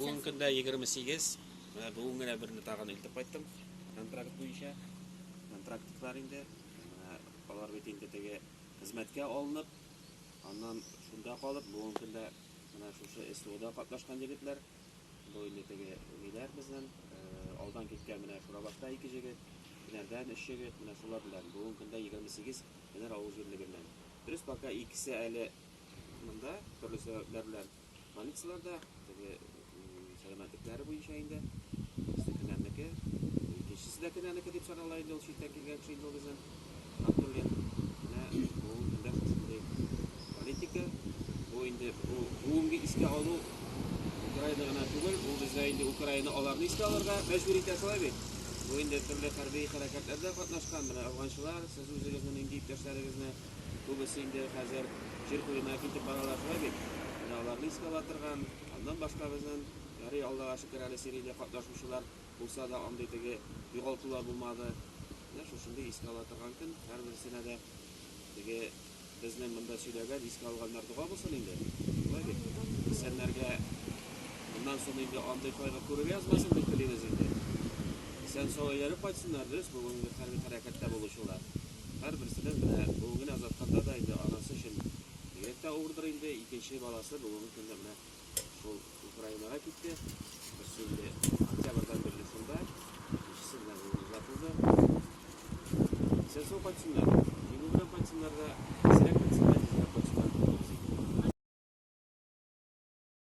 Бүгенге көндә 28, менә бүген генә берне тагын илтеп кайттым, контракт буенча. Контрактлар инде, менә алар бит инде теге хезмәткә алынып, аннан шунда калып, бүгенге көндә менә шушы СВОда катнашкан егетләр. Бу инде теге ниләр безнең, э, алдан киткән менә Шурабашта ике җегет, Финәрдән өч җегет, менә шулар белән. Бүгенге көндә 28 Финәр авыл җирлегеннән. Дөрес, пока икесе әле монда, төрле сәбәпләр белән. Больницаларда теге сәламәтлекләре буенча инде берсе кенәнеке, икенчесе дә кенәнеке дип санала инде ул читтән килгән кеше инде ул безнең Абдуллин. Менә бу көндә шушындый политика. Бу инде бу бүгенге искә алу Украина гына түгел, ул бездә инде Украина аларны искә алырга мәҗбүр итә шулай бит. Бу инде төрле хәрби хәрәкәтләрдә катнашкан менә афганчылар, сез үзегезне нинди иптәшләрегезне Күбесе инде хәзер җир куена китеп баралар шулай бит. Менә аларны искә ала торган, аннан башка безнен, ярый Аллага шөкер әле сериядә катнашучылар булса да андый теге югалтулар булмады. Менә шушындый искә ала торган көн һәрберсенә дә теге безнен монда сөйләгән искә алганнар дога булсын инде. Шулай бит? Исәннәргә моннан сон инде андый кайгы күрергә язмасын дип телибез инде. Исән сау әйләнеп кайтсыннар, дөрес бүгенге хәрби хәрәкәттә булучылар. Һәрберсенең менә бүгенгене озатканда да инде анасы өчен бигрәк тә авырдыр инде. Икенче баласы бүгенге көндә менә шул Украинага китте. Берсе инде октябрьдан бирле шунда, икенчесе менә бүген озатылды. Исән-сау кайтсыннар, җиңү белән кайтсыннар да, исерек кайтсыннар, тизрәк кайтсыннар, кулыбыз иңде.